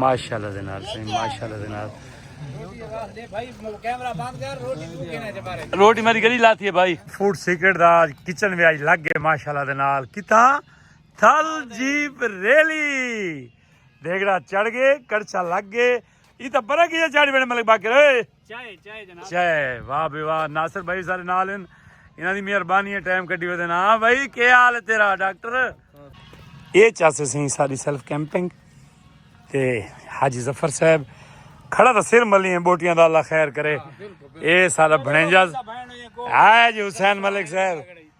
ماشاءاللہ دے نال سائیں ماشاءاللہ دے نال روٹی میری گلی لاتی ہے بھائی فوڈ سیکرٹ دا کچن وی اج لگ گئے ماشاءاللہ دے نال کتھاں تھل جیپ ریلی دیگڑا چڑھ گئے کڑچا لگ گئے یہ تو برا کیا چڑھ بڑے ملک باقی رہے چائے چائے جناب چائے واہ بے واہ ناصر بھائی سارے نال ہیں انہاں دی مہربانی ہے ٹائم کڈی ودے نا ہاں بھائی کی حال ہے تیرا ڈاکٹر اے چاسے سیں ساری سیلف کیمپنگ تے حاجی ظفر صاحب کھڑا تھا سر ملی ہیں بوٹیاں دا اللہ خیر کرے ہاں، اے سارا بھنجاز ہاں جی حسین ملک صاحب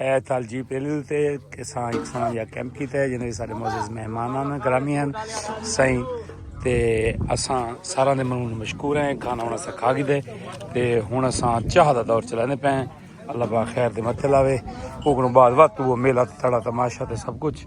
اے تھال جی پی ایل تے کسان اکسان یا کیمپ کیتا ہے جنہیں سارے معزز مہمان آنا گرامی ہیں سائیں تے اساں سارا دے منون مشکور ہیں کھانا ہونا سا کھا گی دے تے ہون اساں چاہ دا دور چلانے پہ ہیں اللہ با خیر دے متھے لاوے اوکنوں بعد وقت وہ میلہ تڑا تماشا تے سب کچھ